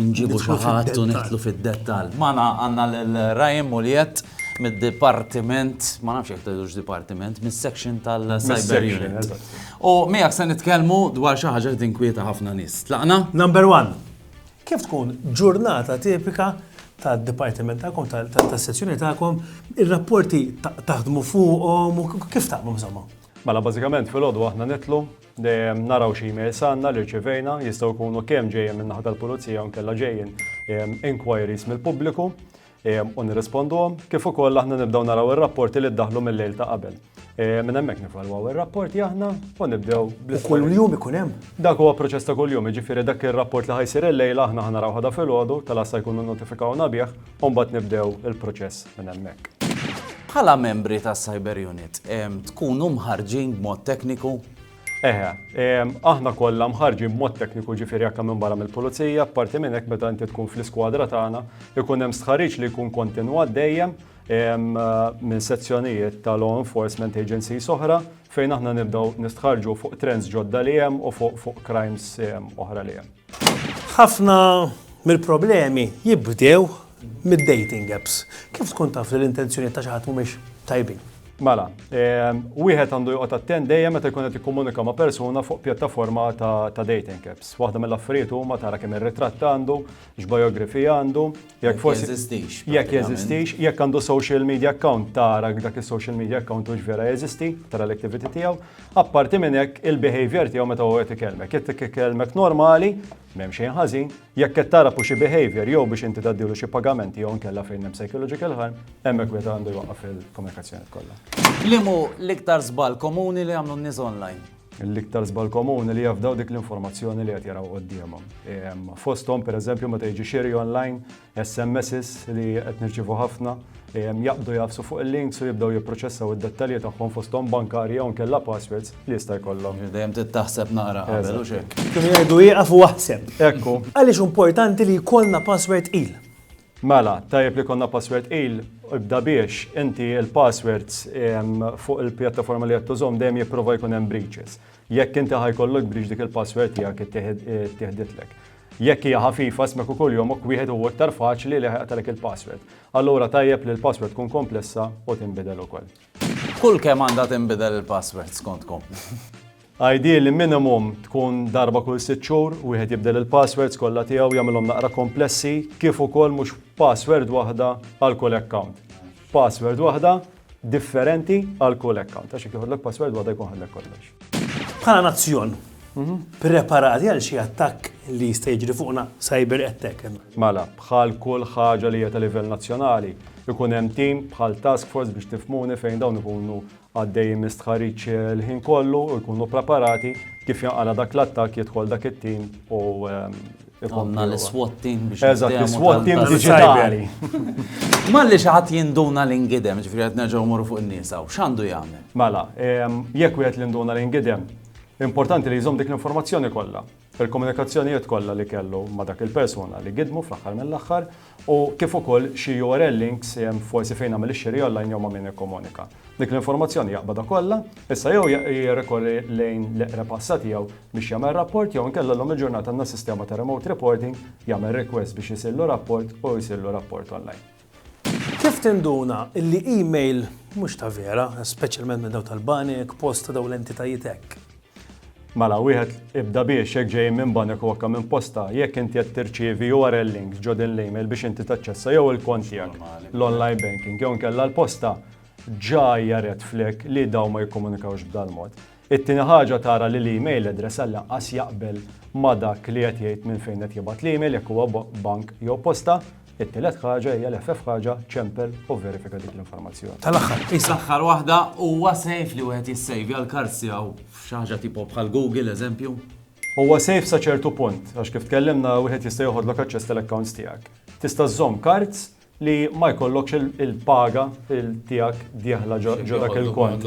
Inġibu xi ħadd u nidħlu fid-dettall. Magħna għandna lil Ryan Mulliet mid-dipartiment, ma nafx jekk tgħidux dipartiment, mis-section tal-Cyber Unit. U miegħek se nitkellmu dwar xi ħaġa li tinkwieta ħafna nies. Tlaqna? Number one, kif tkun ġurnata tipika tad-dipartiment tagħkom, tas-sezzjoni tagħkom, ir-rapporti taħdmu fuqhom u kif tagħmlu bżommhom? Mela bażikament fil-għodu aħna nitlu Dejjem naraw x'emails għandna li rċevejna, jistgħu jkunu kemm ġejjin min-naħa tal-pulizija jew nkella ġejjin inquiries mill-pubbliku u nirrisponduhom, kif ukoll aħna nibdew naraw ir-rapporti li ddaħlu mill-lejl ta' qabel. Minn hemmhekk nivalwaw ir-rapporti aħna u nibdew bl Kull jum ikun hemm? Dak huwa proċess ta' kuljum, jiġifieri dak ir-rapport li ħajsir il-lejla aħna ħanaraw ħada filgħodu, tal-għassa jkunu notifikawna bih u mbagħad nibdew il-proċess minn hemmhekk. Bħala membri tas Cyber Unit, tkunu mħarġin b'mod tekniku Eħe, aħna kollha mħarġi b'mod tekniku ġifieri jekk minn barra mill-pulizija, parti minn hekk meta inti tkun fl-iskwadra tagħna, ikun hemm stħarriġ li jkun kontinwat dejjem minn sezzjonijiet ta' law enforcement agency soħra fejn aħna nibdew nistħarġu fuq trends ġodda li hemm u fuq crimes oħra li hemm. Ħafna mill-problemi jibdew mid-dating apps. Kif tkun taf li l-intenzjonijiet ta' xi ħadd mhumiex tajbin? Mela, ehm, wieħed għandu joqgħod attent dejjem meta jkun qed jikkomunika ma' persuna fuq pjattaforma ta' dating apps. Waħda mill-affarijiet huma tara kemm ir-ritratt għandu, x'biografija għandu, Jekk forsi jeżistix. Jekk jeżistix, jekk għandu social media account tara dak is-social media account hux vera jeżisti, tara l-activity tiegħu. Apparti minn hekk il-behavior tiegħu meta huwa qed ikellmek. Jekk tikellmek normali, m'hemm xejn ħażin, jekk qed tara xi behavior jew biex inti tgħaddilu xi pagamenti jew nkella fejn hemm psychological harm, hemmhekk wieħed għandu jwaqqaf il-komunikazzjoni kollha. Limu l-iktar żball komuni li għamlu n-nies online? L-iktar żball komuni li jafdaw dik l-informazzjoni li qed jaraw quddiemhom. Fosthom pereżempju meta jiġi xiri online, SMSs li qed nirċievu ħafna, jaqbdu jagħfsu fuq il-links u jibdew jipproċessaw id-dettalji tagħhom fosthom bankarji jew inkella passwords li jista' jkollhom. Jiġifieri dejjem trid taħseb naqra qabel, hux hekk? Kienu jgħidu ieqaf u aħseb. Ekku. Għaliex hu importanti li jkollna password tqil? Mela, tajjeb li konna password tqil, ibda biex inti il-passwords fuq il-pjattaforma li qed tużhom dejjem jipprova jkun hemm breaches. Jekk inti ħajkollok breach dik il-password tiegħek ittieħditlek. Jekk hija ħafifa smek ukoll jomok wieħed huwa iktar faċli li ħajqtalek il-password. Allura tajjeb li l-password tkun komplessa u tinbidel ukoll. Kull kemm għandha tinbidel il-password skontkom? Ideally minimum tkun darba kull sitt xhur wieħed jibdel il-passwords kollha tiegħu jagħmilhom naqra komplessi kif ukoll mhux password waħda għal kull account. Password waħda differenti għal kull account għax jekk joħodlok password waħda jkun ħadlek kollox. Bħala nazzjon, mhm. preparati għal xi attakk li jista' jiġri fuqna cyber attack. Mela, bħal kull ħaġa li hija ta' livell nazzjonali, ikun hemm tim bħal task force biex tifmuni fejn dawn ikunu għaddejjin minn stħarriġ il-ħin kollu u jkunu preparati, kif jinqala' dak l-attakk jidħol dak it-tim u Għonna l-SWAT team biex. Eżat, l-SWAT team digitali. Malli xaħat jinduna l-ingidem, ġifri għad nerġaw morru fuq il-nisa, u xandu jgħamil? Mela, jek u għet l-induna l-ingidem, importanti li jizom dik l-informazzjoni kollha. fil-komunikazzjonijiet kollha li kellu ma' dak il-persuna li gidmu fl-aħħar mill-aħħar u kif ukoll xi url links forsi fejn għamel ix-xiri online jew ma' min ikkomunika dik l-informazzjoni jaqbadha kollha issa jew jirrikorri lejn l-eqreb għassa tiegħu biex jagħmel rapport jew inkella llum il-ġurnata għandna sistema ta' remote reporting jagħmel request biex isirlu rapport u jsirlu rapport online. Kif tinduna li email mhux ta' vera, speċjalment minn dawn tal-banek, post ta' dawn l-entitajiet hekk? Mela, wieħed ibda biex jekk ġejjin minn banek u anke minn posta, jekk inti qed tirċievi URL links ġo din l-email biex inti taċċessa jew il-kont tiegħek, l-online banking jew inkella l-posta, ġa hija red flag li dawn ma jikkomunikawx b'dal-mod. It-tieni ħaġa tara li l-email address għal lanqas jaqbel ma' dak li qed jgħid minn fejn qed jibgħat l-email jekk huwa bank jew posta. It-tielet ħaġa hija li ħfef ħaġa, ċempel u verifika dik l-informazzjoni. Tal-aħħar, qis l-aħħar waħda, huwa safe li wieħed jissejvja l-cards tiegħu f'xi ħaġa tipo bħal Google, eżempju? Huwa safe sa ċertu punt, għax kif tkellimna wieħed jista' joħodlok aċċess tal-accounts tiegħek. Tista' żżomm cards li ma jkollokx il-paga tiegħek dieħla ġo dak il-kont.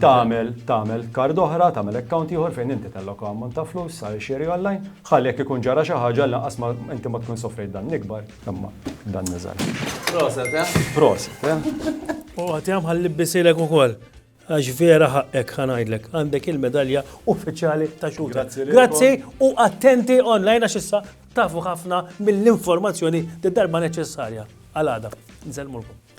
Tagħmel tagħmel kard oħra, tagħmel account ieħor fejn inti telloka ammont ta' flus sa xiri online, ħalli jekk ikun ġara xi ħaġa lanqas ma inti ma tkun sofrejt dan ikbar, imma dan niżgħar. Proset, eh? Proset, eh? U għatihom ħalli bisilek ukoll. Għax vera ħaqqek ħanajdlek, għandek il-medalja uffiċjali ta' xuta. Grazzi u attenti online għax issa tafu ħafna mill-informazzjoni d-darba neċessarja. Għal-għada, nżelmulkom.